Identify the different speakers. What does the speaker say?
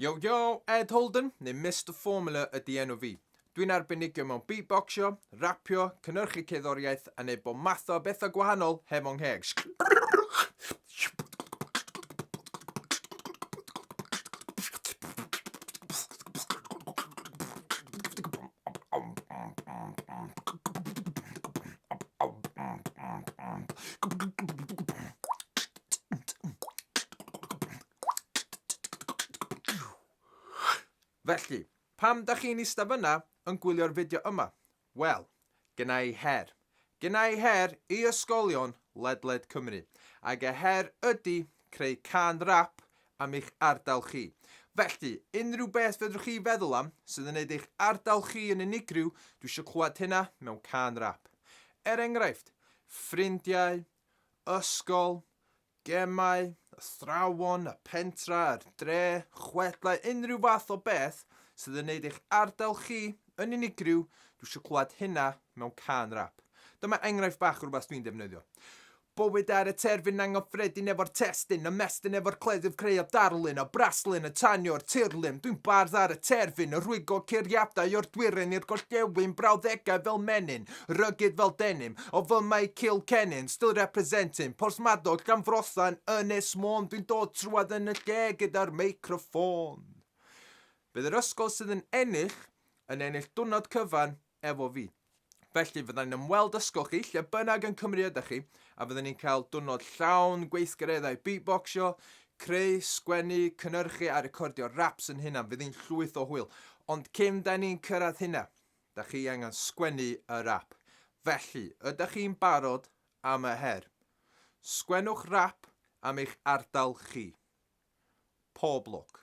Speaker 1: Yo yo, Ed Holden, neu Mr Formula ydy enw fi. Dwi'n arbenigio mewn beatboxio, rapio, cynnyrchu cerddoriaeth a neud bob math o bethau gwahanol heb o'n ngheg. Felly, pam da chi'n eista fyna yn gwylio'r fideo yma? Wel, gyna i her. Gyna i her i ysgolion ledled Cymru. Ac y her ydy creu can rap am eich ardal chi. Felly, unrhyw beth fedrwch chi feddwl am sydd yn neud eich ardal chi yn unigryw, dwi eisiau clywed hynna mewn can rap. Er enghraifft, ffrindiau, ysgol, gemau, athrawon, y pentra, yr dre, chwedlau, unrhyw fath o beth sydd yn neud eich ardal chi yn unigryw, dwi eisiau clywed hynna mewn cân rap. Dyma enghraifft bach o rhywbeth dwi'n defnyddio. Bywyd ar y terfyn anghyffredin efo'r testyn, ymestyn efo'r cleddyf creu a darlun, a braslun yn tanio'r tirlun. Dwi'n bardd ar y terfyn, yn rhwygo curiadau o'r dwyrain i'r gorllewin, brawddegau fel menyn, Rugged fel denim, o fy mae Kilkennin still representing, Porthmadog, Llanfrothan, Ynys Môn Dwi'n dod trwad yn y lle gyda'r meicroffôn Bydd yr ysgol sydd yn ennill, yn ennill dwrnod cyfan efo fi Felly fyddai'n yn ymweld ysgol chi lle bynnag yn Cymru ydych chi a fyddwn ni'n cael dwrnod llawn gweithgareddau beatboxio, creu, sgwennu, cynnyrchu a recordio raps yn hunan, fydd hi'n llwyth o hwyl. Ond cyn da ni'n cyrraedd hynna, Dach chi angen sgwennu yr ap. Felly, ydach chi'n barod am y her? Sgwennwch rap am eich ardal chi. Pob lwc.